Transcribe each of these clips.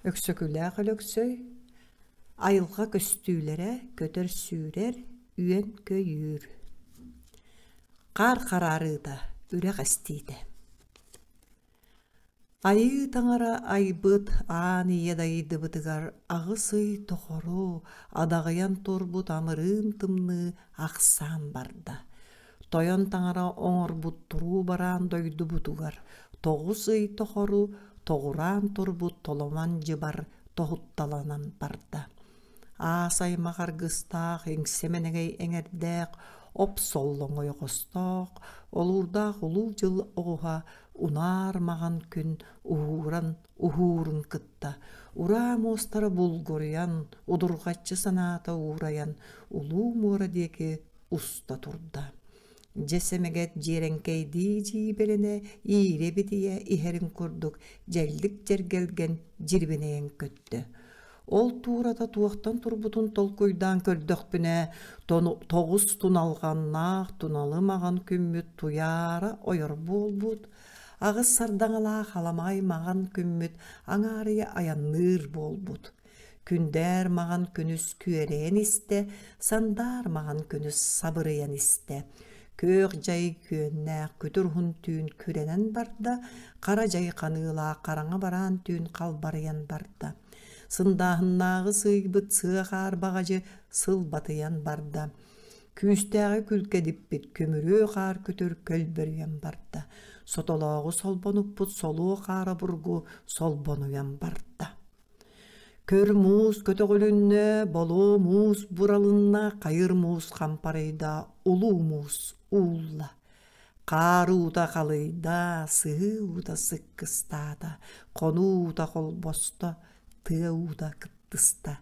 Өксөкүлээх Өлөксөй айылҕа көстүүлэрэ көтөр-сүүрэр, үөн-көйүүр. Хаар хараарыыта, үрэх эстиитэ. Айыы таҥара айбыт аан ийэ дайыдыбытыгар аҕыс ый тухуру адаҕыйан турбут амырыын тымныы ахсаан барда. Тойон Таҥара оҥорбут туруу бараан дойдубутугар тоҕус ый тохору тоҕураан турбут толомон дьыбар тоһутталанан барда. Аас аймах аргыстаах, иҥсэмэнэгэй эҥэрдээх, оп-соллоҥ ойоҕостоох, олуурдаах Улуу Дьыл оҕуһа унаар маҕан күн уһууран уһуурун кытта ураа муостара булгуруйан, удурҕаччы санаата уурайан улуу муора диэки уста турда. Дьэ сэмэгэт дьиэрэҥкэйдии дьиибэрэнэ иирэ битийэ иһэрин курдук дьэллик дьэргэлгэн дьирбинэйэн көттө. Ол туурата туохтан турбутун толкуйдаан көрдөхпүнэ, тоҕус туналҕаннаах туналы маҕан күммүт туйаара ойор буолбут, аҕыс сардаҥалаах аламай маҕан күммүт аҥаарыйа айанныыр буолбут. Күндээр маҕан күнүс күөрэйэн истэ, сандаар маҕан күнүс сабырыйан истэ. Күөх дьай күөннээх күтүр уһун түүн күрэнэн барда, хара дьай ханыылаах хараҥа бараан түүн халбарыйан барда. Сындааһыннааҕы сыыйбыт сыа хаар баҕадьы сылбатыйан барда. Күүстээҕи күлкэ диппит күмүрүө хаар күтүр көлбөрүйэн барда. Сотолооҕу солбонуппут солуо хаара бургу солбонуйан барда. Көр муус көтөҕүлүннэ, болоо муус буралынна, хайыр муус хампарыйда, улуу муус уулла. Хаар уута халыйда, сыһыы уута сыккыстаата, хону уута холбосто, тыа уута кыптыста.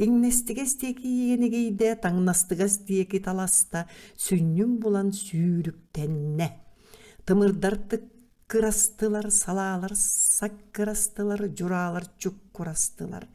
Иҥнэстигэс диэки иэнигийдэ, таҥнастыгас диэки таласта, сүнньүн булан сүүрүктэннэ. Тымырдар кырастылар, салаалар саккырастылар, дьураалар чуккурастылар.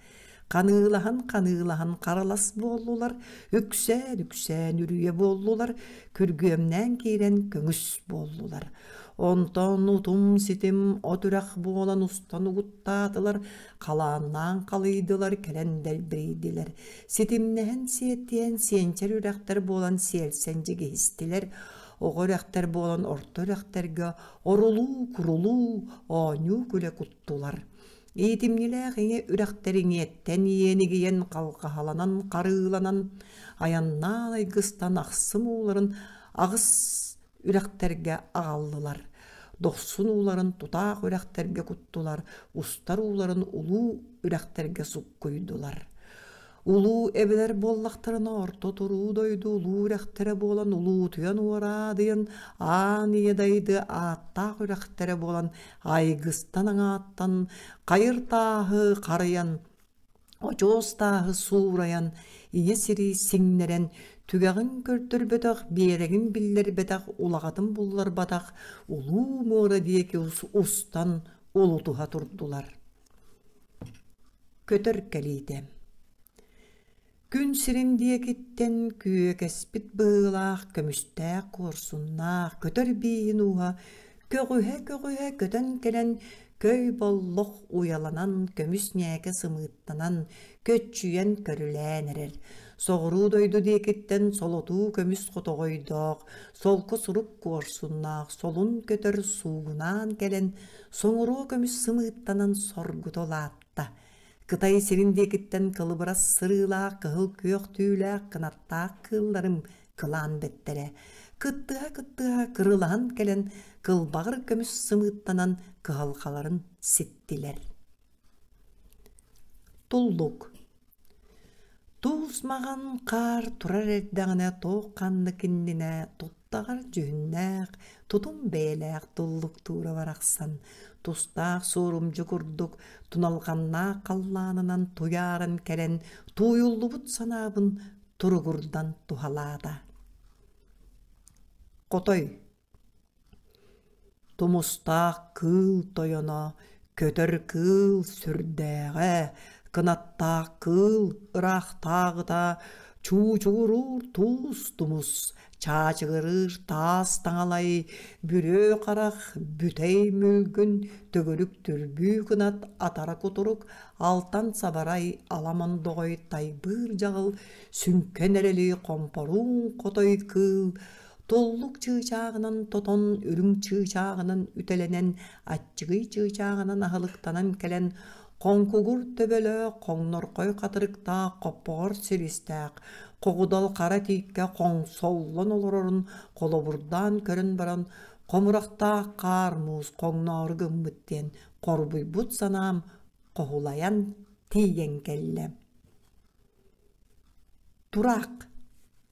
Ханыылаһан, ханыылаһан харалас буоллулар, үксээн, үксээн үрүйэ буоллулар, күргүөмнээн киирэн көҥүс буоллулар. Онтон утум-ситим от үрэх буолан устан угуттаатылар, халааннаан халыйдылар, кэлэн дэлбэйдилэр. Ситимнэһэн сиэтиэн, сиэнчэр үрэхтэр буолан сиэлсэн дьигиһистилэр. Оҕо үрэхтэр буолан орто үрэхтэргэ орулуу-курулуу, оонньуу-күлэ куттулар. Иитимньилээх иҥэ үрэхтэр иҥиэттэн иэн игийэн халҕаһаланан харыыланан айаннаан айгыстан ахсым ууларын аҕыс үрэхтэргэ аҕаллылар. Дохсун ууларын тутаах үрэхтэргэ куттулар, устар ууларын улуу үрэхтэргэ суккуйдулар. Улуу эбэлэр буоллахтарына орто туруу дойду улуу үрэхтэрэ буолан улуутуйан уораадыйан аан ийэ дайды ааттаах үрэхтэрэ буолан айгыстан аҥааттан хайыр тааһы харыйан очоос тааһы суурайан ийэ сири сиҥнэрэн түгэҕин көрдөрбөтөх биэрэгин биллэрбэтэх улаҕатын булларбатах улуу муора диэки устан улутуһа турдулар көтөр кэлиитэ күн сирин диэкиттэн күөкэспит быһыылаах көмүстээх куорсуннаах көтөр бииһин ууһа көҕүһэ-көҕүһэ көтөн кэлэн көй боллох уйаланан көмүс ньээкэ сымыыттанан көччүйэн көрүлээн эрэр. Соҕуруу дойду диэкиттэн солотуу көмүс хотоҕойдоох, солко сурук куорсуннаах солун көтөр суугунаан кэлэн, соҥуруу көмүс сымыыттанан соргута улаатта. Кытай сирин диэкиттэн кылыбырас сырыылаах кыһыл күөх түүлээх кынаттаах кыылларым кылаан бэттэрэ. Кыттыһа-кыттыһа кырылаһан кэлэн кылбаҕыр көмүс сымыыттанан кыһалхаларын ситтилэр. Туллук Туус маҕан хаар турар эрдэҕинэ туох-ханнык иннинэ туттаҕар дьүһүннээх, тутум бэйэлээх туллуктуура барахсан, тустаах суорумдьу курдук туналҕаннаах халлаанынан туйааран кэлэн тууйуллубут санаабын туругурдан туһалаата. Хотой тумустаах кыыл тойоно көтөр кыыл сүрдээҕэ кынаттаах кыыл ыраахтааҕыта чуучугуруур туус тумус чаачыгырыыр таас таҥалай бүрүө харах бүтэй мүлгүн төгүрүк түрбүү кынат атара кутурук алтан сабарай аламандоҕой тайбыыр дьаҕыл сүҥкэн эрэлий хомпорууҥ хотой кыыл Толлук чыычааҕынан тотон, үрүҥ чыычааҕынан үтэлэнэн, аччыгый чыычааҕынан аһылыктанан кэлэн, хоҥкугур төбөлөөх, хоҥнорхой хатырыктаах, хоппоҕор силистээх, хоҕудал хара тииккэ хоҥсоллон олорорун холобурдаан көрөн баран, хомурахтаах хаар муус хоҥноору гыммыт диэн хорбуйбут санаам хоһулайан тиийэн кэллэ. Тураах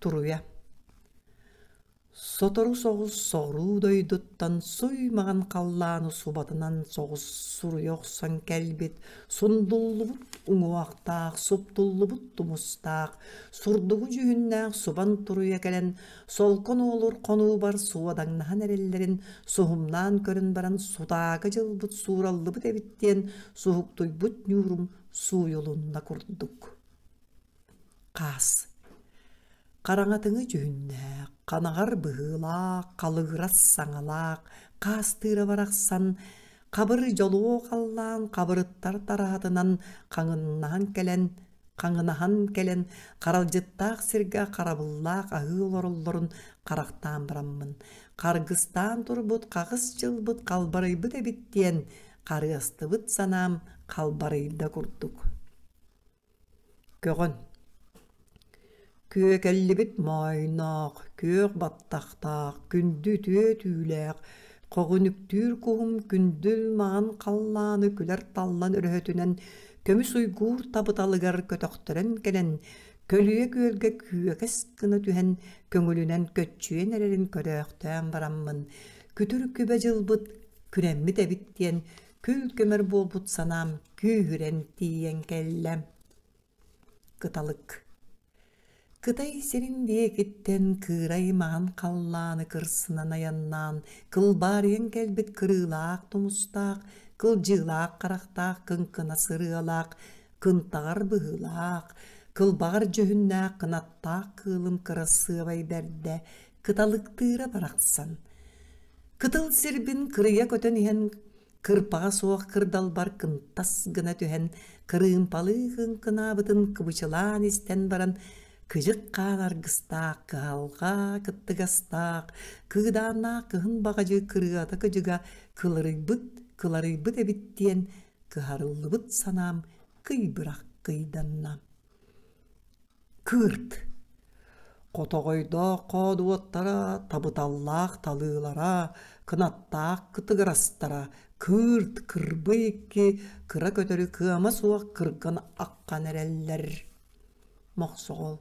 туруйа сотору соҕус соҕуруу дойдуттан суй маҥан халлааны субатынан соҕус суруйа охсон кэлбит сундуллубут уҥуохтаах суптуллубут тумустаах сурдугу дьүһүннээх субан туруйа кэлэн солкон уолур хонуубар суодаҥнаһан эрэллэрин суһумнаан көрөн баран сутаага дьылбыт суураллыбыт эбит диэн суһуктуйбут ньуурум сууйулунна курдук Хаас хараҥатыҥы дьүһүннээх, ханаҕар быһыылаах, халыгырас саҥалаах, хаастыыра барахсан хабыры дьолуо халлаан хабырыттар тараатынан хаҥыннаһан кэлэн хаҥынаһан кэлэн харалдьыттаах сиргэ харабыллаах аһыы олороллорун харахтаан бараммын харгыстаан турбут хаҕыс дьылбыт халбарыйбыт эбит диэн харыастыбыт санаам халбарыйда курдук көҕөн күөкэллибит моойноох күөх баттахтаах күндү түө түүлээх хоҕүнүктүүр куһум күндүл маҕан халлааны күлэр таллан өрөһөтүнэн көмүс уйгуур табыталыгар көтөхтөрөн кэлэн көлүйэ күөлгэ күөкэс гына түһэн көҥүлүнэн көччүйэн эрэрин көрөөхтөөн бараммын күтүр күбэ дьылбыт күрэммит эбит диэн Күл-көмөр буолбут санаам күүһүрэн тиийэн кэллэ. Кыталык Кытай сирин диэкиттэн кыырай маҥан халлааны кырсынан айаннаан кылбаарыйан кэлбит кырыылаах тумустаах, кылдьыылаах харахтаах кыҥкынас ырыалаах, кынтаҕар быһыылаах, кылбаҕар дьүһүннээх кынаттаах кыылым кырассыабай бэрдэ кыталыктыыра барахсан кытыл сирбин кырыйа көтөн иһэн кырпаҕа суох кырдалбар кымтас гына түһэн кырыымпалыы кыҥкынаабытын кыбычылаан истэн баран кыдьык хаан аргыстаах кыһалҕа кыттыгастаах кыыдааннаах кыһын баҕадьы кырыата кыдьыга кыларыйбыт кыларыйбыт эбит диэн кыһарыллыбыт санаам кый бырах кыйданна Кыырт хотоҕойдоох хоодуоттара, табыталлаах талыылара, кынаттаах кытыгырастара кыырт кырбы икки кыра көтөрү кыама суох кырган аккан эрэллэр. Мохсоҕол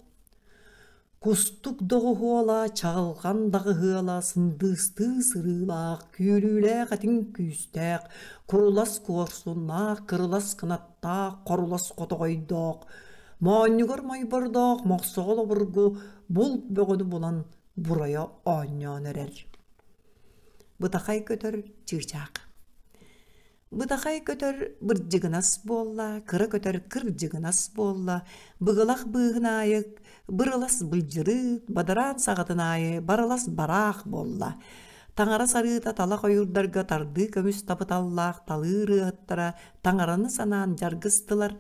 Кустук доҕуһуола, чаҕылҕан даҕыһыала, сындыыстыы сырыылаах, күөлүүлээх этиҥ күүстээх, курулас куорсуннаах, кырылас кынаттаах, хорулас хотоҕойдоох, моонньугар мойбордоох мохсоҕол обургу булт бөҕөнү булан бурайа оонньоон эрэр. Бытахай көтөр чыычаах Бытахай көтөр бырдьыгынас буолла, кыра көтөр кырдьыгынас буолла, быгылах быыһын аайы бырылас былдьырыык, бадараан саҕатын аайы барылас бараах буолла. Таҥара сарыыта талах ойуурдарга тардыы көмүс тапыталлаах талыы ырыаһыттара таҥараны санаан дьаргыстылар,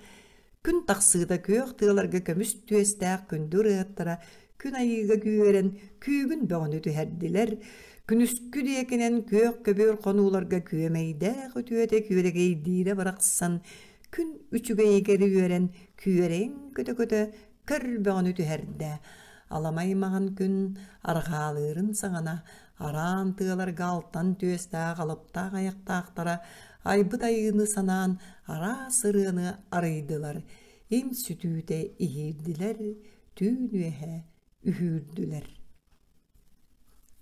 Күн тахсыыта күөх тыаларга көмүс түөстээх күндү ырыаттара күн айыыга күүһэрэн күүгүн бөҕөнү түһэрдилэр. Күнүскү диэкинэн күөх көбүөр хонууларга күөмэйдээх үтүөтэ күөрэгэйдиирэ барахсан күн үчүгэйи кэри үөрэн күөрэйин көтө-көтө көр бөҕөнү түһэрдэ. Аламай маҥан күн арҕаалыырын саҕана араан тыаларга алтан түөстээх алаптаах айахтаахтара айбыт айыыны санаан араас ырыаны арыйдылар, им сүтүүтэ иһиирдилэр, түүн үөһэ үһүүрдүлэр.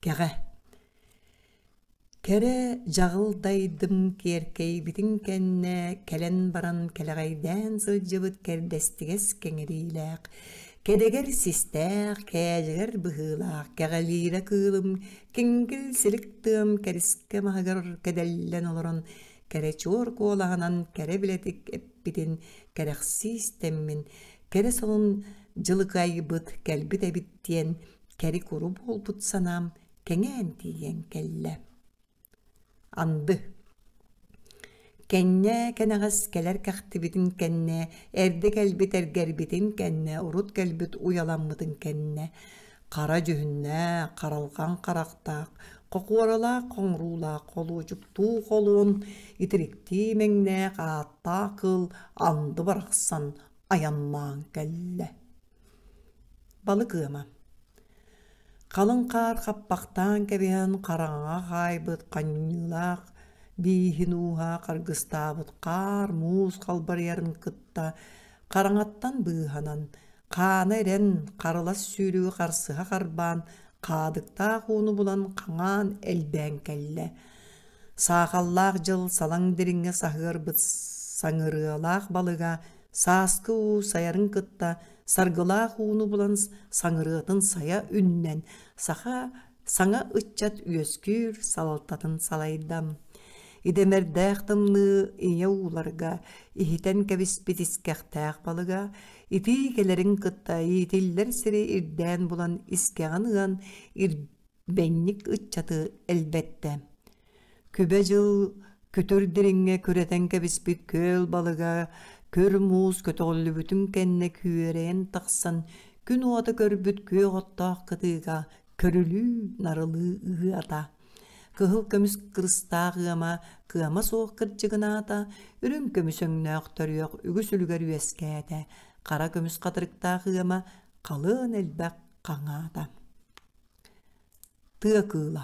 Кэҕэ Кэрэ дьаҕыл дайдым киэркэйбитин кэннэ кэлэн баран кэлэҕэйдээн сылдьыбыт кэрдэстигэс кэҥириилээх Кэнэгэр систээх, кээлигэр быһыылаах кэҕэлиирэ кыылым киҥкил силик тыам кэрискэ маһыгар кэдэллэн олорон кэрэ чуор куолаһынан кэрэ билэтик эппитин кэрэхсии истэммин кэрэ сонун дьылыкайбыт кэлбит эбит диэн кэри-куру буолбут санаам кэҥээн тиийэн кэллэ Анды. Кэннэ кэнэҕэс кэлэр кэхтибитин кэннэ, эрдэ кэлбит эргэрбитин кэннэ, урут кэлбит уйаламмытын кэннэ, хара дьүһүннээх, харалҕан харахтаах, хохуоралаах хоҥуруулаах холуочуктуу холуон, итириктии мэҥнээх ааттаах кыыл анды барахсан айаннаан кэллэ Балык ыама. Халыҥ хаар хаппахтаан кэбиһэн хараҥаҕа хаайбыт ханньыылаах бииһин ууһа харгыстаабыт хаар муус халбарыйарын кытта хараҥаттан быыһанан, хаана ирэн, харылас сүүрүгү харсыһа харбаан, хаадыктаах ууну булан хаҥаан элбээн кэллэ. Саахаллаах дьыл салаҥ дириҥҥэ саһыарбыт саҥырыалаах балыга Сааскы уу сайарын кытта саргылаах ууну булан саҥырыатын сайа үннэн, саха саҥа ыччат үөскүүр салалтатын салайдам. Идэмэрдээх тымныы ийэ ууларга иһитэн кэбиспит искэхтээх балыга итии кэлэрин кытта иитиллэр сири ирдээн булан искэҕин ыан бэҥник ыччаты элбэттэ. Күбэ дьыл күтүр дириҥҥэ күрэтэн кэбиспит күөл балыга күр муус көтөҕүллүбүтүн кэннэ күөрэйэн тахсан күн уота көрбүт күөх оттоох кытыыга көрүлүү-нарылыы ыһыата. Кыһыл көмүс кырыстаах ыама кыама суох кырдьыгынаата, үрүҥ көмүс өҥнөөх төрүөх үгүс үлүгэр үөскээтэ, хара көмүс хатырыктаах ыама халыан элбэх хаҥаата. тыа кыыла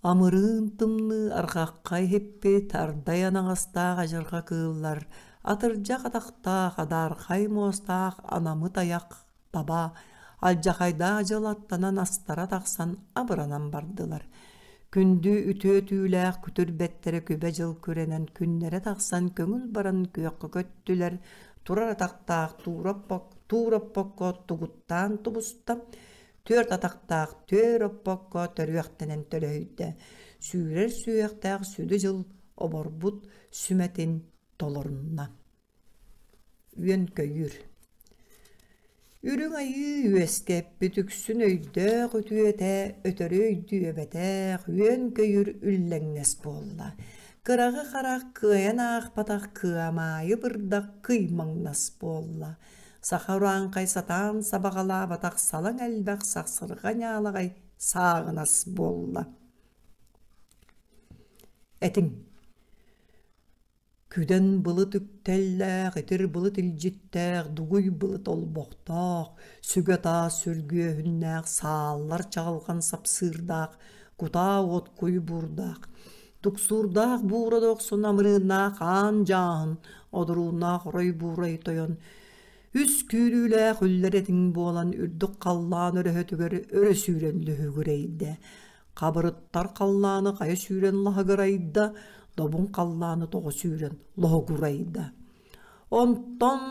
амырыын тымныы арҕахха иһиппит ардай анаҥастаах адьырҕа кыыллар атырдьах атахтаах адаархай муостаах анамыт айах таба алдьахайдаах дьыл аттанан астара тахсан абыранан бардылар күндү үтүө түүлээх күтүр бэттэрэ күбэ дьыл күрэнэн күннэрэ тахсан көҥүл баран күөххэ көттүлэр турар атахтаах туура оппок туур оппокко тугуттаан тубуста түөрт атахтаах түөр оппокко төрүөхтэнэн төлөһүйдэ сүүрэр сүһүөхтээх сүдү дьыл оборбут сүмэтин толорунна үөнкөйүүр Үрүҥ Айыы үөскэппит үксүн өйдөөх үтүөтэ, өтөрү өйдүөбэтээх, үөн-көйүүр үллэҥнэс буолла. Кыраҕы харах кыайан аахпатах кыамаайы бырдах кый маҥнас буолла. Саха урааҥхай сатаан сабаҕалаабатах салаҥ элбэх сахсырҕа ньаалаҕай сааҕынас буолла. Этиҥ Күдэн былыт үктэллээх, итир былыт илдьиттээх, дугуй былыт олбохтоох, сүгэ-таас сүргүөһүннээх, сааллар чаҕылҕан сапсыырдаах, кутаа уот куй буурдаах, туксуурдаах буура да охсон амырыыннаах аан дьааһын, одурууннаах орой буурай тойон, үс күүлүүлээх үллэр этиҥ буолан үрдүк халлаан өрөһөтүгэр өрө сүүрэн лүһүгүрэйдэ. Хабырыттар халлааны хайа сүүрэн лаһыгырайда, добун халлааны тоҕо сүүрэн лоһугурайда. Онтон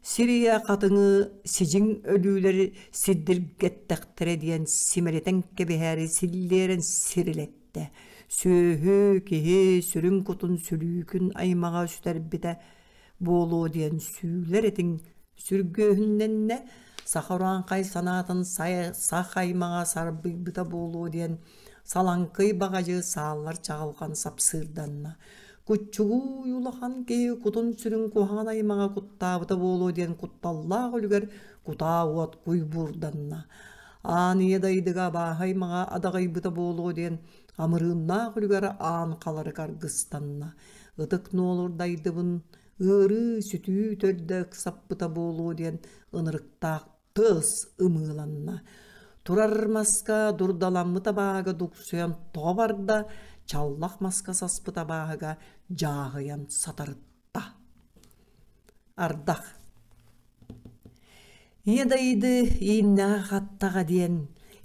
сирийэ хатыҥы сидьиҥ өлүүлэри сирдиргэттэхтэрэ диэн симэлитэн кэбиһээри силлиэрэн сирилэттэ. Сүөһү, киһи сүрүн кутун сүлүүкүн аймаҕа сүтэрбитэ буолуо диэн сүүлэр этиҥ сүргүөһүннэннэ, саха урааҥхай санаатын саха аймаҕа сарбыйбыта буолуо диэн салаҥкый баҕадьы сааллар чаҕылҕан сапсыырданна. Куччугуй улахан киһи кутун-сүрүн куһаҕан аймаҕа куттаабыта буолуо диэн кутталлаах үлүгэр кутаа уот куйбуурданна. Аан ийэ дайдыга абааһы аймаҕа адаҕыйбыта буолуо диэн амырыыннаах үлүгэр аан халары каргыстанна. ытык нуолурдайдыбын ыарыы-сүтүү төрдө ыксаппыта буолуо диэн ынырыктаах тыас ымыыланна турар маска дурдаламмыт абааһыга дуксуйан тоҕо барда чаллах маска саспыт абааһыга дьааһыйан сатарытта ардах Ийэ дойду ииннэҕэ-хаттаҕа диэн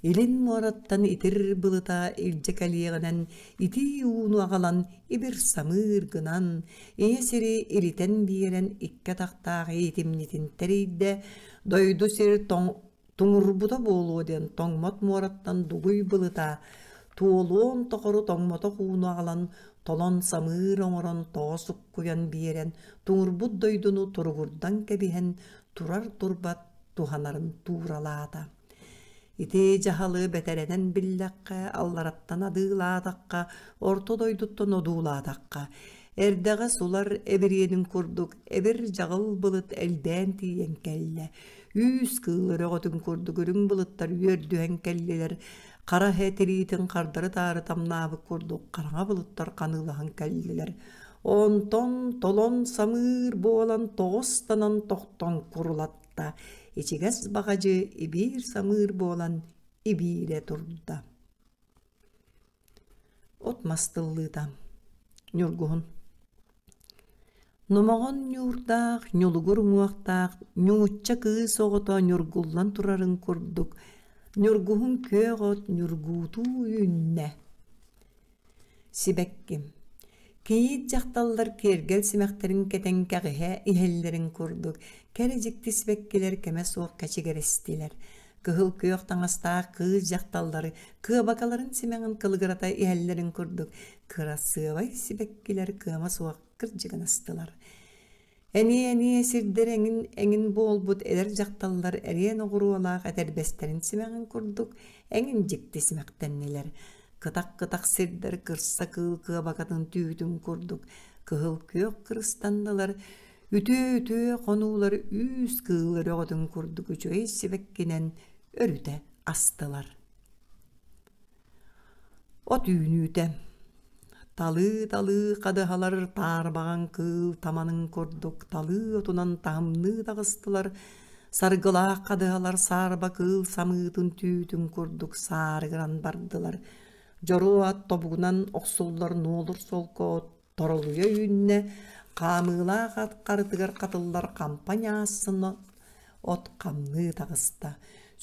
илин муораттан итир былыта илдьэ кэлиэҕинэн итии ууну аҕалан ибир-самыыр гынан, ийэ сири илитэн биэрэн икки атахтаах иитимньитин тэрийдэ, дойду сир тоҥ Туҥурбута буолуо диэн тоҥмот муораттан дугуй былыта туолуон тохору тоҥмотох ууну аҕалан, толон самыыр оҥорон тоҕо суккуйан биэрэн, туҥурбут дойдуну туругурдан кэбиһэн, турар турбат туһанарын тууралаата. Ити дьаһалы бэтэрэнэн биллэххэ, аллараттан адыылаатахха, орто дойдуттан одуулаатахха, эрдэҕэ сулар эбириэнин курдук эбир-дьаҕыл былыт элбээн тиийэн кэллэ. Үүс-кыыл өрөҕөтүн курдук үрүҥ былыттар үөрдүһэн кэллилэр, хара иһэ тириитин хардары-таары тамнаабыт курдук хараҥа былыттар ханыылаһан кэллилэр. Онтон толон самыыр буолан тоҕостанан тохтон курулатта. Ичигэс баҕадьы ибиир самыыр буолан ибиирэ турда. От мас тыллыыта. Ньургуһун. Номоҕон ньуурдаах, ньулугур уҥуохтаах, ньуучча кыыс оҕото ньургуллан турарын курдук, ньургуһун күөх от ньургуутуу үүннэ. Сибэкким Кийиит дьахталлар киэргэл симэхтэрин кэтэн кэҕиһэ иһэллэрин курдук, кэрэ дьикти сибэккилэр кэмэ суох кэчигирэстилэр. Кыһыл күөх таҥастаах кыыс дьахталлары кыабакаларын симэҕин кылыгырата иһэллэрин курдук, кырасыабай сибэккилэр кыама суох кырдьыгынастылар. Эмиэ-эмиэ сирдэр эҥин эҥин буолбут эдэр дьахталлар эриэн оҕуруолаах этэрбэстэрин симэҕин курдук эҥин дьикти симэхтэннилэр. Кытах-кытах сирдэр кырса кыыл кыабакатын түүтүн курдук кыһыл күөх кырыстаннылар, үтүө-үтүө хонуулар үүс кыыл өрөҕөтүн курдук үчүгэй сибэккинэн өрүтэ астылар. От үүнүүтэ Талыы-талыы хадыһалар таарбаҕаҥ кыыл таманын курдук талыы отунан таһымныы таҕыстылар, саргылаах хадыһалар саарба кыыл самыытын түүтүн курдук саарыгыран бардылар, дьоруо ат тобугунан охсуллар нуолур солко Торолуйа үүннэ хаамыылаах ат харытыгар хатыллар хампаня ассыны от хамныы таҕыста.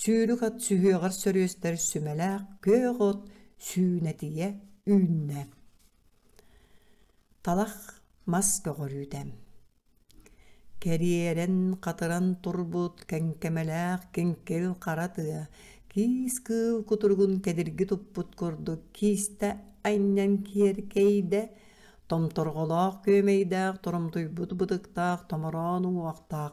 Сүүрүк от сүһүөҕэр сөрүөстэр сүмэлээх күөх от сүүнэтийэ үүннэ. Талах мас көҕөрүүтэ Кэриэрэн хатыран турбут кэҥкэмэлээх киҥкил хара тыа киис кыыл кутуругун кэдирги туппут курдук киистэ анньан киэркэйдэ, томторҕолоох күөмэйдээх торомтуйбут бытыктаах томороон уҥуохтаах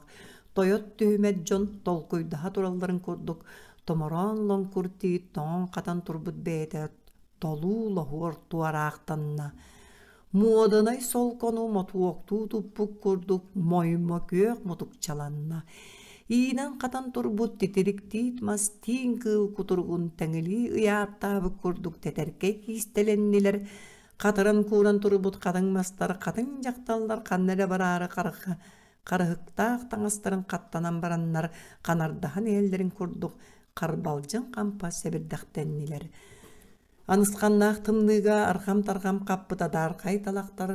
тойот түһүмэт дьон толкуйдаһа туралларын курдук томороон лоҥкур тиит тоҥон хатан турбут бэйэтэ толуу лоһуор туораахтанна. Муоданай солкону мотуоктуу туппут курдук моймо күөх мутукчаланна. Иинэн-хатан турбут титириктиит мас тиин кыыл кутуругун тэҥилии ыйааттаабыт курдук тэтэркэй киистэлэннилэр, хатыран кууран турбут хатыҥ мастар хатыҥ дьахталлар ханна эрэ бараары харыха харыһыктаах таҥастарын хаттанан бараннар ханардаһан иһэллэрин курдук харбалдьын хампа сэбирдэхтэннилэр. Анысханнаах тымныыга арҕам-тарҕам хаппыт адаархай талахтар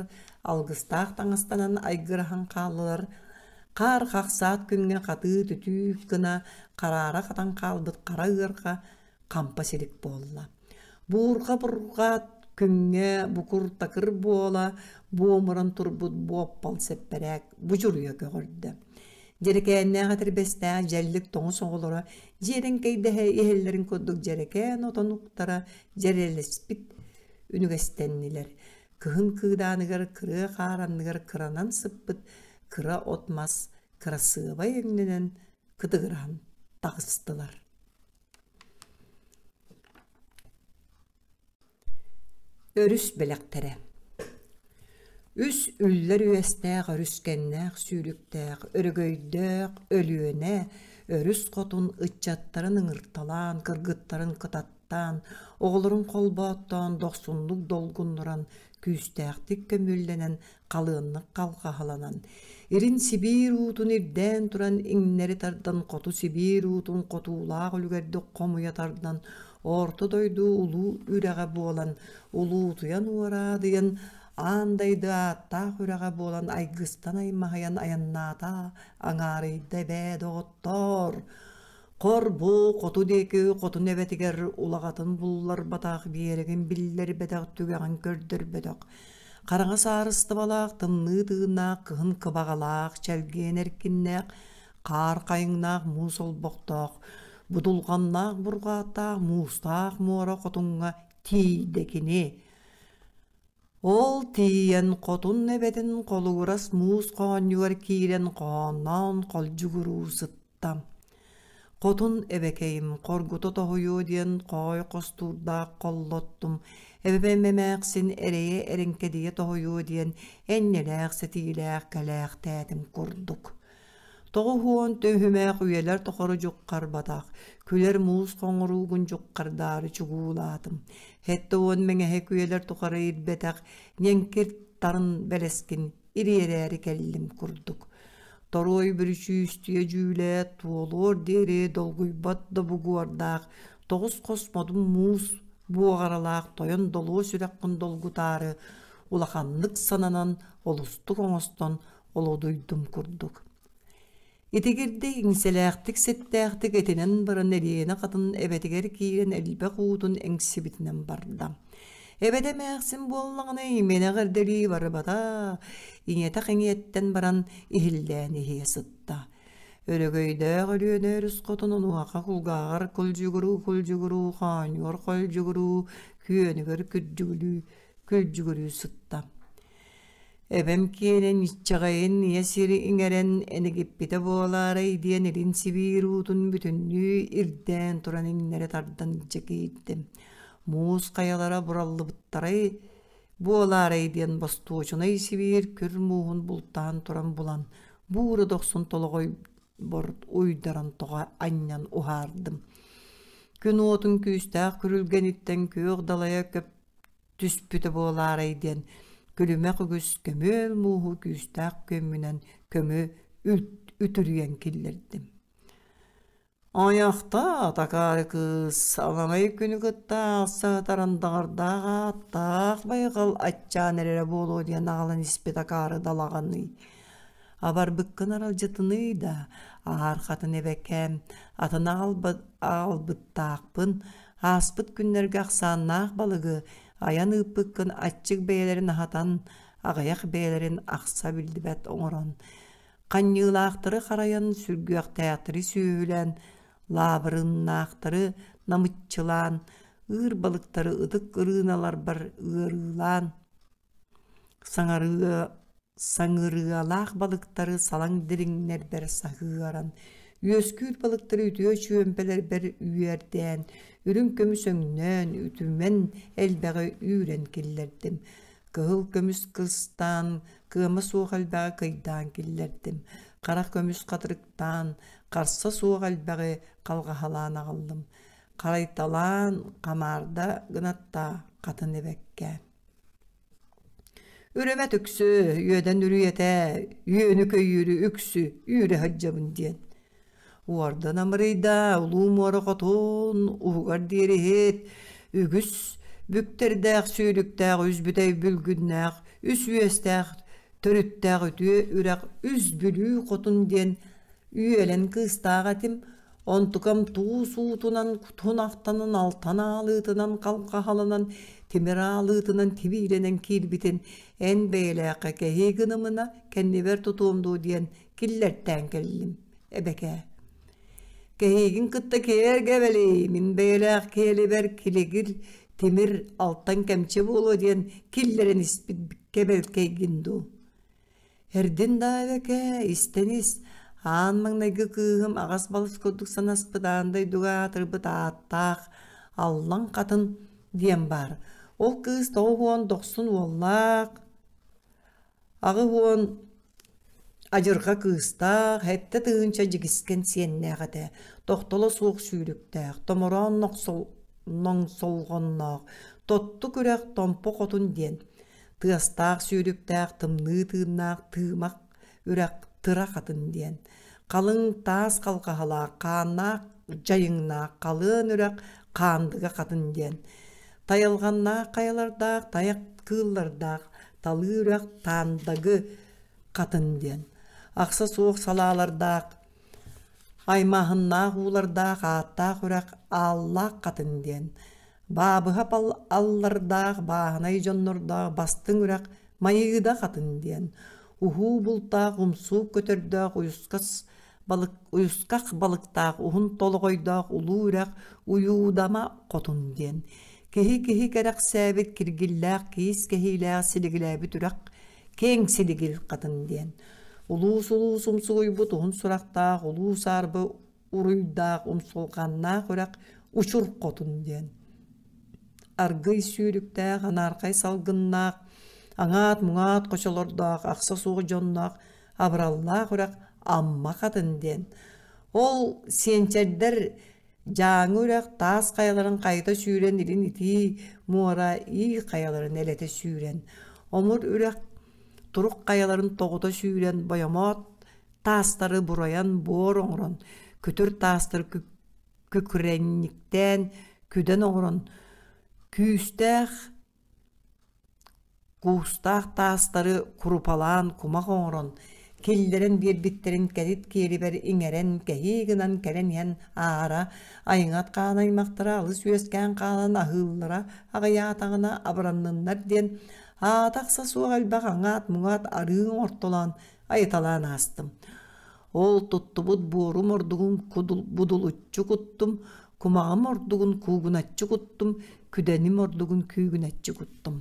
алгыстаах таҥастанан айгыраһан хааллылар, хаар хахсаат күҥҥэ хатыы-түтүү гына хараара хатан хаалбыт хара ыарха хампа силик буолла. Буурҕа-бурҕаат күҥҥэ букур-такыр буола буомуран турбут буоппал сэппэрээк будьуруйа көҕөрдө. Дьэрэкээннээх этэрбэстээх дьэллик тоҥус оҕолоро Дьиэрэҥкэйдэһэ иһэллэрин курдук дьэрэкээн отон уктара дьэрэлэспит үнүгэстэннилэр. Кыһын кыыдааныгар кырыа хаар анныгар кыранан сыппыт кыра от-мас кырасыабай өҥнөнөн кытыгыраһан таҕыстылар Өрүс бэлэхтэрэ Үс үллэр үөстээх өрүскэннээх сүүрүктээх өрөгөйдөөх Өлүөнэ өрүс хотун ыччаттарын ыҥырталаан кыргыттарын кытаттаан оҕолорун холбооттоон дохсуннук долгуннуран күүстээхтик көмүөллэнэн халыаннык халҕаһаланан, Ирин Сибиир уутун ирдээн туран иҥнэри тардан хоту Сибиир уутун хотуулаах үлүгэрдик хомуйа тардан Орто дойду улуу үрэҕэ буолан улуутуйан уораадыйан аан дайды ааттаах үрэҕэ буолан айгыстан аймаһыйан айаннаата аҥаарыйда эбээ доҕоттоор Хор-бу хоту диэки хотун эбэтигэр улаҕатын булларбатах биэрэгин биллэрбэтэх түгэҕин көрдөрбөтөх хараҥа саарыстыбалаах тымныы тыыннаах кыһын кыбаҕалаах чэлгиэн эркиннээх хаар хайыҥнаах муус олбохтоох будулҕаннаах бурҕааттаах муустаах муора хотуҥҥа тиийдэ кини ол тиийэн хотун эбэтин холугурас муус хоонньугар киирэн хоһоонноон холдьугуруу сытта тутта. Хотун эбэкэйим хоргута тоһуйуо диэн хоой хостуурдаах холлоттум, эбэм эмээхсин эрэйэ эрэҥкэдийэ тоһуйуо диэн энньэлээх сэтиилээх кэлээхтээтим курдук. Тоҕу хуон төһүмээх үйэлэр тохору дьуккарбатах, күлэр муус хоҥоруугун дьуккардаары чугуулаатым. Хетте уон мэҥэһэ күөлэр тухары ирбэтэх, ньэҥкир тарын бэлэскин ириэрээри кэллим курдук торуой бүрүчүүстүйэ дьүүлэ туолуор диэри долгуйбат да бугуордаах тоҕус хос модун муус буоҕаралаах тойон долуо сүрэхпин долгутаары улаханнык сананан олустук оҥостон олодуйдум курдук Итигирдик иҥсэлээхтик ситтээхтик итинэн баран Элиэнэ хатын эбэтигэр киирэн элбэх уутун эҥсибитинэн барда. Эбэтэ эмээхсин буоллаҕына имэнэх эрдэлии барыбата иҥэтэх-иҥиэттэн баран иһиллээн иһиэ сытта. Өрөгөйдөөх Өлүөнэ өрүс хотун унуоха кулгааҕар кулдьугуруу-кулдьугуруу хоонньуор-хойдьугуруу күөнүгэр күрдьүгүрүү күлдьүгүрүү сытта. Эбэм киэнин иччэҕэйин ийэ сири иҥэрэн энэгиппитэ буолаарай диэн илин Сибиир уутун бүтүннүү ирдээн туран иҥнэри тардан илдьэ киирдим. Муус хайалара бураллыбыттарай буолаарай диэн бостуочунай Сибиир күр мууһун бултаан туран булан буура дохсун толоҕойбор уйдаран тоҕо анньан уһаардым. Күн уотун күүстээх күрүлгэниттэн күөх далайа көп түспүтэ буолаарай диэн күлүмэх үгүс көмүөл мууһу күүстээх күөммүнэн көмү үтүрүйэн киллэрдим. Ойохтоо такаары кыыс аламай күнү кытта сатаран даҕардаах ааттаах байҕал аччаан эрэрэ буолуо диэн аҕалан испит акаары далаҕаныы. Абарбыккын аралдьытыныы да, аһаархатын эбэкээм, атын аалбыт, аалбыттаахпын, ааспыт күннэргэ ахсааннаах балыгы айан ыыппыккын аччык бэйэлэрин аһатан, аҕыйах бэйэлэрин ахса биллибэт оҥорон, ханньыылаахтары харайан, сүргүөхтээхтэри сүөһүлээн, лаабырыннаахтары намыччылаан, ыыр балыктары ытык ырыыналарбар ыарыылаан, Саҥарыа, саҥырыалаах балыктары салаҥ дириҥнэрбэр саһыаран, үөскүүр балыктары үтүө чүөмпэлэрбэр үөрдээн, үрүҥ көмүс өҥнөөн, үтүмэн элбэҕи үүрэн киллэрдим. Кыһыл көмүс кыстаан, кыама суох элбэҕи кыйдаан киллэрдим. Харах көмүс хатырыктаан, харса суох элбэҕи халҕаһалаан аҕаллым. Харайталаан, хамаарда гынаттаа хатын ибэккэ Үрүмэт үксү үөдэн үрүйэтэ үөнү-көйүүрү үксү үүрэ сылдьабын диэн. Уордан амырыйда улуу муора хотун уһугар диэри иһит үгүс бүктэрдээх сүүрүктээх үс бүтэй бүлгүннээх үс үөстээх төрүттээх үтүө үрэх үс бүлүү хотун диэн үөлэн кыыстаах этим онтукам туус уутунан кутун ахтанын алтан аалыытынан халҕаһалынан тимир аалыытынан тибиилэнэн киирбитин эн бэйэлээххэ кэһии гынымына кэннибэр тутуом дуу диэн киллэртээн кэллим эбэкээ кэһиигин кытта киэргэ эбэлий мин бэйэлээх киэлибэр килигил тимир алтан кэмчи буолуо диэн киллэрэн испит кэбэлкэйгин дуу Эрдин даавэке, истэнис, аан маҥнайгы кыыһым аҕас балыс курдук санаспыт аан дойдуга аатырбыт ааттаах Аллаҥ Хатын диэн баар. Ол кыыс тоҕус уон дохсун уоллаах, аҕыс уон адьырҕа кыыстаах, сэттэ тыһыынча дьигискэн сиэннээх этэ. Тохтоло суох сүүрүктээх, томороон ноҥсолҕонноох, тотту күрэх Томпо Хотун диэн. тыастаах сүүрүктээх тымныы тыыннаах тыымах үрэх тыра хатын диэн халыҥ таас халҕаһалаах хааннаах дьайыҥнаах халыан үрэх хаандыга хатын диэн тайалҕаннаах хайалардаах тайах кыыллардаах талыы үрэх таандагы хатын диэн ахса суох салаалардаах Аймааһыннаах уулардаах ааттаах үрэх Ааллаах Хатыҥ диэн Баабыһап аллардаах бааһынай дьоннордоох Бастыҥ үрэх Майыыда Хатыҥ диэн уһуу бултаах умсуук көтөрдөөх уйусхах балыктаах уһун толоҕойдоох улуу үрэх Уйуудама Хотун диэн киһи киһи кэрэхсээбит киргиллээх киис кэһиилээх силигилээбит үрэх Кеҥ силигил хатын диэн. Улуус-улуус умсугуйбут уһун сурахтаах, улуус-арбы уруйдаах, умсулҕаннаах үрэх учур хотун диэн. Аргый сүүрүктээх, анаархай салгыннаах, аҥаат-муҥаат хочолордоох, ахса суох дьонноох, абыраллаах үрэх Амма Хатын диэн. Ол сиэнчэрдэр Дьааҥы үрэх таас хайаларын хайыта сүүрэн илин итии муора ии хайаларын элэтэ сүүрэн, омур үрэх турук хайаларын тоҕута сүүрэн бойомоот таастары буруйан буор оҥорон, күтүр таастары күкүрэнньиктээн күдэн оҥорон, күүстээх Куустаах таастары курупалаан кумах оҥорон, киллэрэн биэрбиттэрин кэтит киэлибэр иҥэрэн кэһии гынан кэлэн иһэн аара, айыҥат хаан аймахтара алыс үөскээн хаалан аһыыллара аҕыйаатаҕына абыранныннар диэн, аата-ахса суох элбэх аҥаат-муҥаат арыын ортолоон, айыталаан аастым. Ол туттубут буорум ордугун кудул-будулуччу куттум, кумаҕым ордугун куугуначчы куттум, күдэним ордугун күүгүначчы куттум.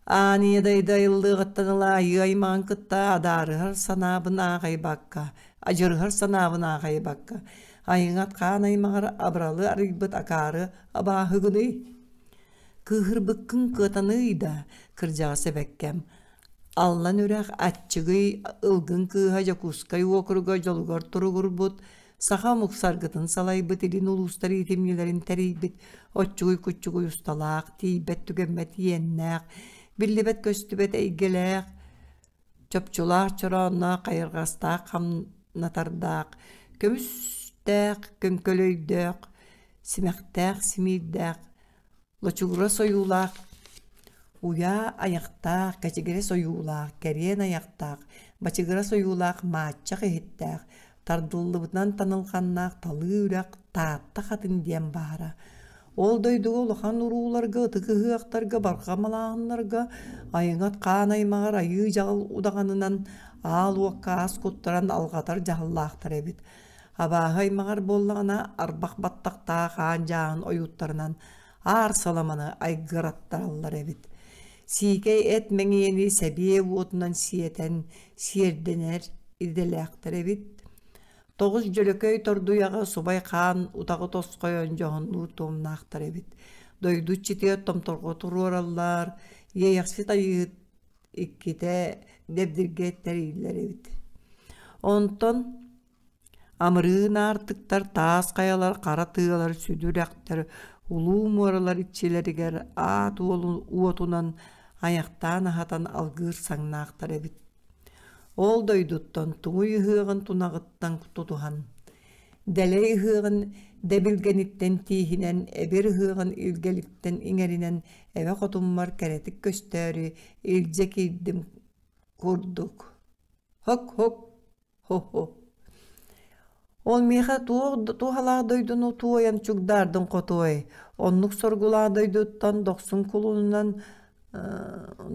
Аания дайда ыллыгыттан ыла айыы-аймаҕын кытта адаарыһар санаабын аахайбакка, адьырыһар санаабын аахайбакка, айыҥат хаан аймаҕар абыралы арыйбыт акаары абааһыгыный? Кыыһырбыккын кыатаный да, кырдьаҕас эбэккэм, Аллан үрэх Аччыгый Ылгын кыыһа Дьокуускай уокуруга дьолугар туругурбут саха омук саргытын салайбыт илин улуустар иитимньилэрин тэрийбит оччугуй-куччугуй усталаах, тиийбэт-түгэммэт иэннээх, биллибэт-көстүбэт эйгэлээх, чопчулаах, чороонноох, хайырҕастаах, хамнатардаах, көмүстээх, көҥкөлөйдөөх, симэхтээх, симиирдээх Лочугурас ойуулаах, уйаа айахтаах, кэчигирэс ойуулаах, кэриэн айахтаах, бачыгырас ойуулаах, мааччах иһиттээх, тардыллыбытынан танылҕаннаах талыы үрэх Таатта Хатын диэн баара. Ол дойдуга улахан урууларга, ытык ыһыахтарга, барҕамалааһыннарга айыҥат хаан аймаҕар айыы дьаҕыл удаҕанынан аал уокка ас куттаран алҕатар дьаһаллаахтар эбит. Абааһы аймаҕар буоллаҕына арбах баттахтаах аан дьааһын ойууттарынан аар саламаны айгыраттараллар эбит. Сиикэй эт мэҥийэни сэбиэ уотунан сиэтэн сиэрдэнэр идэлээхтэр эбит. Тоҕус Дьөлөкөй Тордуйаҕа субай хаан утаҕы тосхойон дьоһуннуур туомнаахтар эбит. Дойду читиэр томторго туруораллар, иэйэхсит айыыһыт иккитэ дэбдиргэ тэриллэр эбит онтон амырыын аартыктар таас хайалар хара тыалар сүдүрэхтэр улуу муоралар иччилэригэр аат уолун уотунан айахтаан аһатан алгыыр саҥнаахтар эбит ол дойдуттан тугуй ыһыаҕын тунаҕыттан тутуһан Дэлэй ыһыаҕын дэбилгэниттэн тииһинэн, эбир ыһыаҕын илгэлиттэн иҥэринэн эбэ хотуммар кэрэтик көстөөрү илдьэ киирдим курдук «Һок-һок, һо-һо» Ол миэхэ туох туһалаах дойдуну туойан чугдаардын хотуой, оннук соргулаах дойдуттан дохсун кулуунунан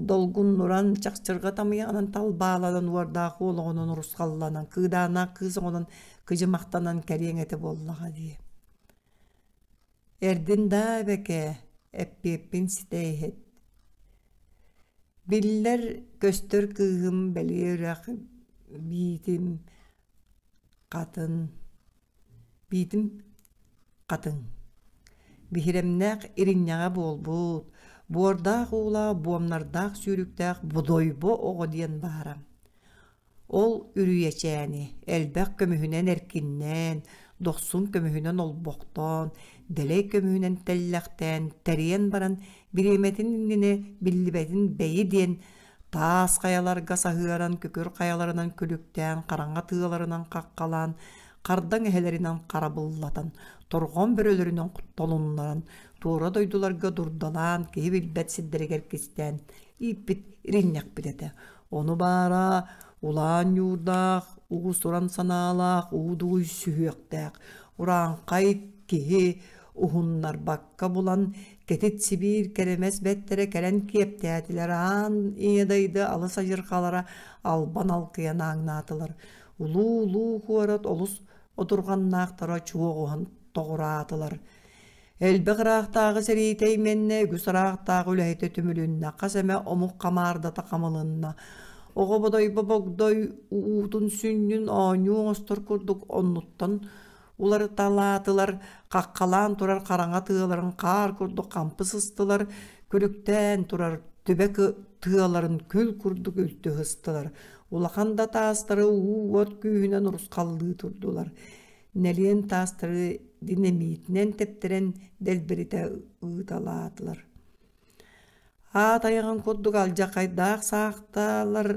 долгуннуран чахчырга тамыйаҕынан талбааланан уордаах уолоҕунан урусхалланан кыыдааннаах кыыс оҕонон кыдьымахтанан кэриэҥ этэ буоллаҕа дии эрдин даа эбэкээ эппиэппин ситэ иһит биллэр көстөр кыыһым бэлиэ үрэх биитим хатын Биитин хатыҥ. Биһирэмнээх иринньэҕэ буолбут, буордаах уулаах буомнардаах сүүрүктээх Будойбо оҕо диэн баара. Ол үрүйэчээни элбэх көмүһүнэн эркиннээн, дохсун көмүһүнэн олбохтоон, дэлэй көмүһүнэн тэллэхтээн, тэрийэн баран бириэмэтин иннинэ биллибэтин бэйи диэн Таас хайаларга саһыаран, күкүр хайаларынан күлүктээн, хараҥа тыаларынан хаххалаан, хардаҥ эһэлэринэн харабыллатан, торҕон бөрөлөрүнэн толуннаран, туора дойдуларга дурдалаан, киһи билбэт сирдэригэр кистээн ииппит иринньэхпит этэ. Ону баара улаан ньуурдаах, уус-уран санаалаах, уу-дууй сүһүөхтээх, урааҥхай киһи уһуннарбакка булан, Кэтит Сибиир кэрэмэс бэттэрэ кэлэн киэптээтилэр аан ийэ дайды алыс адьырҕалара албан алкыйан ааҥнаатылар. Улуу-улуу куорат олус отурҕаннаахтара чуоҕуһан тоҕураатылар. Элбэх ыраахтааҕы сэриитэ именнэ, үгүс ыраахтааҕы үлэһитэ түмүлүннэ, хас эмэ омук хамаардата хамылынна. Оҕо бодойбо богдой уутун сүнньүн оонньуу оҥостор курдук оннуттан уларыталаатылар, хаххалаан турар хараҥа тыаларын хаар курдук хампыс ыстылар, күлүктээн турар түбэ тыаларын күл курдук үлтү ыстылар. Улахан да таастары уу уот күүһүнэн урусхаллыы турдулар. Нэлиэн таастары динамитинэн тэптэрэн дэлбиритэ ыыталаатылар. Аат айаҕын курдук алдьархайдаах саахталар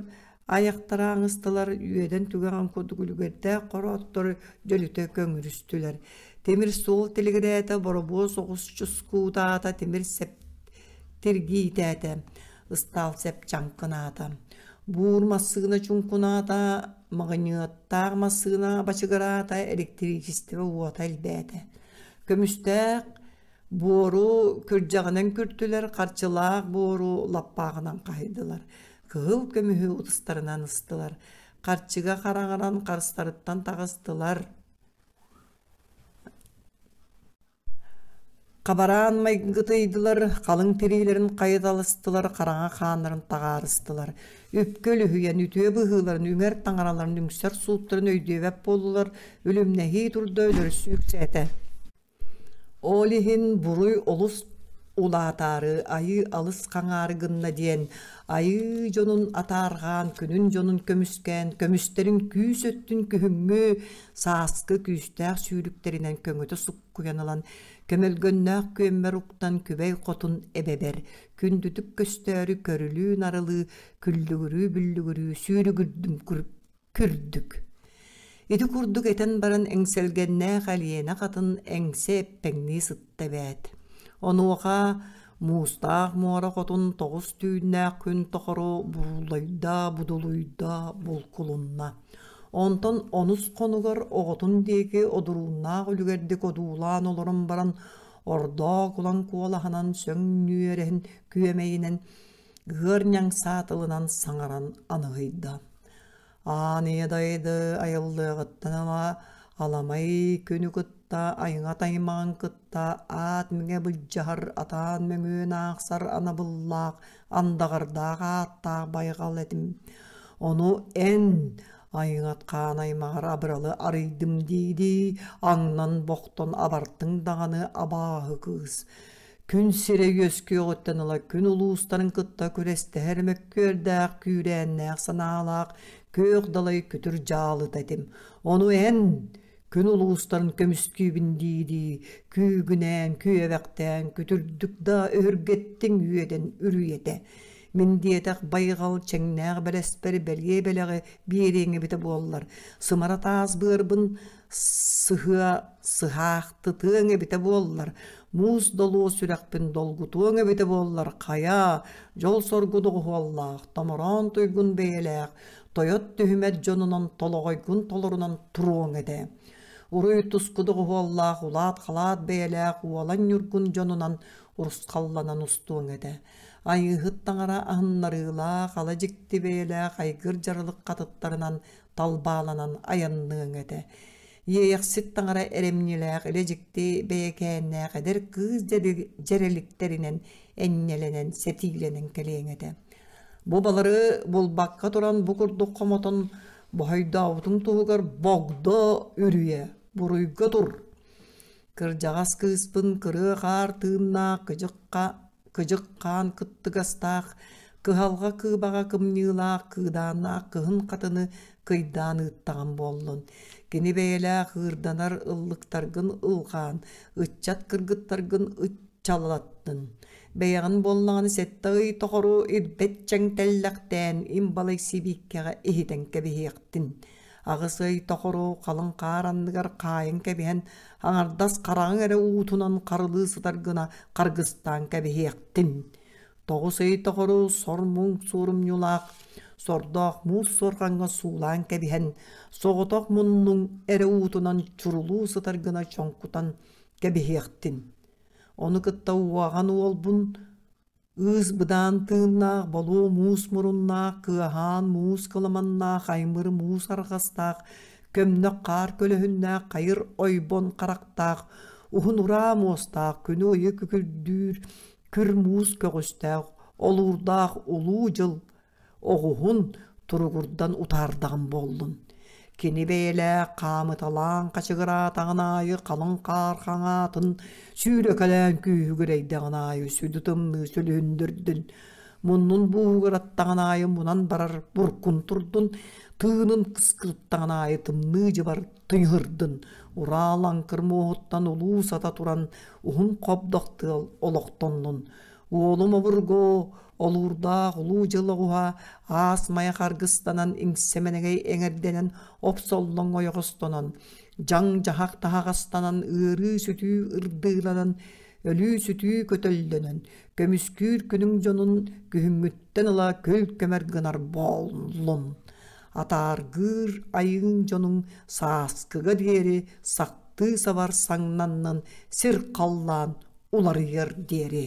айахтара аҥыстылар, үөдэн түгэҕин курдук үлүгэрдээх хорооттор дьөлүтэ көҥүрүстүлэр. Тимир суол тилигирээтэ, боробуос оҕус чускуутаата, тимир сеп тиргиитээтэ, ыстаал сепчаҥкынаата. Буур массыына чуҥкунаата, маҕыньыаттаах массыына бачыгыраата, электричество уота элбээтэ. Көмүстээх Буору күрдьэҕинэн күртүлэр, харчылаах буору лаппааҕынан хаһыйдылар. Кыһыл көмүһү утустарынан ыстылар. Харчыга хараҕыран харстарыттан таҕыстылар. Хабараан майгытыйдылар, халыҥ тириилэрин хайыталастылар, хараҥа хааннарын таҕаарыстылар. Үпкэ үлүһүйэн, үтүө быһыыларын, үҥэр таҥараларын, үҥсэр сууттарын өйдүөбэп буоллулар, үлүмнэһии турда өлөрсүү үксээтэ. Ол иһин буруй олус улаатаары айыы алыс хаҥаары гынна диэн айыы дьонун атаарҕаан күнүн дьонун көмүскээн көмүстэрин күүс өттүн күһүҥҥү сааскы күүстээх сүүрүктэринэн көҥөтө суккуйан ылан көмөлгөннөөх күөммэр уктан күбэй хотун эбэбэр күндүтүк көстөөрү көрүлүү-нарылыы күллүгүрүү-бүллүгүрүү сүүрүгүрдүм Күрдүк. Ити курдук этэн баран эҥсэлгэннээх Алиена хатын эҥсэ эппэҥнии сытта эбээт. Онуоха муустаах муора хотун тоҕус түүннээх күн тохоро буруулайдаа, будулуйдаа булкулунна. Онтон онус хонугар оҕотун диэки одурууннаах үлүгэрдик одуулаан олорон баран ордоох улан куолаһынан сөҥ нүөрэһин күөмэйинэн ыарньаҥ саатылынан саҥаран аныһыйда. «Аан ийэ дайды айыллыаҕыттан ыла аламай күнү кытта айҥат аймаҕын кытта аат миҥэ былдьаһар атаан мөҥүөн аахсар анабыллаах андаҕардаах ааттаах байҕал этим. Ону эн айҥат хаан аймаҕар абыралы арыйдым дии-дии аҥнан бохтон абартыҥ даҕаны абааһы кыыс Күн сирэ үөскүөҕүттэн ыла күн улуустарын кытта күрэстэһэр мөккүөрдээх, күүрээннээх санаалаах күөх далай күтүр дьаалыта этим. Ону эн күн улуустарын көмүскүүбүн дии-дии күүгүнээн, күөбэхтээн күтүрдүк да өһүргэттиҥ үөдэн үрүйэтэ. Мин диэтэх байҕал чэҥнээх бэлэспэр бэлиэ бэлэҕи биэриэҥ эбитэ буоллар, сымара таас быарбын сыһыа сыһаахтытыаҥ эбитэ буоллар муус долуо сүрэхпин долгутуоҥ эбитэ буоллар хайа дьол-соргу доҕуһуоллаах томороон туйгун бэйэлээх тойот түһүмэт дьонунан толоҕойгун толорунан туруоҥ этэ уруй туску доҕуһуоллаах улаат-халаат бэйэлээх уолан ньургун дьонунан урусхалланан устуоҥ этэ айыыһыт таҥара аһыннарыылаах ала дьикти бэйэлээх айгыр дьарылык хатыттарынан талбааланан айанныаҥ этэ. Иэйэхсит таҥара эрэмньилээх илэ-дьикти бэйэкээннээх эдэр кыыс дьэрэликтэринэн энньэлэнэн сэтиилэнэн кэлиэҥ этэ. Бу балары булбакка туран бу курдук хомотон боһойдообутун туһугар богдо үрүйэ буруйга тур. Кырдьаҕас кыыспын кырыа хаар тыыннаах кыдьыкка кыдьык хаан кыттыгастаах, кыһалҕа кыыбаҕа кымньыылаах кыыдааннаах кыһын хатыны кыйдаан ыыттаҕым буоллун. Кини бэйэлээх ыырданар ыллыктаргын ылҕаан, ыччат кыргыттаргын ыччаллаттын. Бэйэҕин буоллаҕына сэттэ ый тоҕору ирбэт чэҥ тэллэхтээн имбалай сибииккэҕэ иһитэн кэбиһиэхтин. Аҕыс ый тохору халыҥ хаар анныгар хаайан кэбиһэн, аҥардас хараҕыҥ эрэ уутунан харылыы сытар гына харгыстаан кэбиһиэхтин. Тоҕус ый тохору сор муҥ суорумньулаах, сордоох муус суорҕаҥҥа суулаан кэбиһэн, соҕотох муннуҥ эрэ уутунан чурулуу сытар гына чоҥкутан кэбиһиэхтин. Ону кытта уоҕан уолбун Ыыс быдаан тыыннаах, болуо муус муруннаах, кыаһаан муус кыламаннаах, аймыр муус арҕастаах, көмнөх хаар көлөһүннээх, хайыр ойбон харахтаах, уһун ураа муостаах, күнү ыйы күкүрдүүр, күр муус көҕүстээх, олуурдаах улуу дьыл оҕуһун туругурдан утаардаҕым буоллун кини бэйэлээх хаамыталаан хачыгыраатаҕын аайы халыҥ хаар хаҥаатын сүүрэкэлээн күүһүгүрэйдэҕин аайы сүдү тымныы сүлүһүндүрдүн муннун бууһугураттаҕын аайы мунан барар буркун турдун тыынын кыскырыттаҕын аайы тымныы дьыбар тыйыһырдын ураа лаҥкыр муоһуттан улуу сата туран уһун хобдох тыал олохтоннун уолум обургу Олуурдаах Улуу дьыл оҕуһа аас майа харгыстанан иҥсэмэнэгэй эҥэрдэнэн опсоллоҥ ойоҕостонон, дьаҥ дьаһах таһаҕастанан ыарыы-сүтүү ырдыыланан, өлүү-сүтүү көтөллөнөн, көмүскүүр күнүҥ дьонун күһүҥҥүттэн ыла көл көмөр гынар буоллун. Атааргыыр айыыҥ дьонуҥ сааскыга диэри сахтыы сабар саҥнаннын, сир халлаан уларыйар диэри.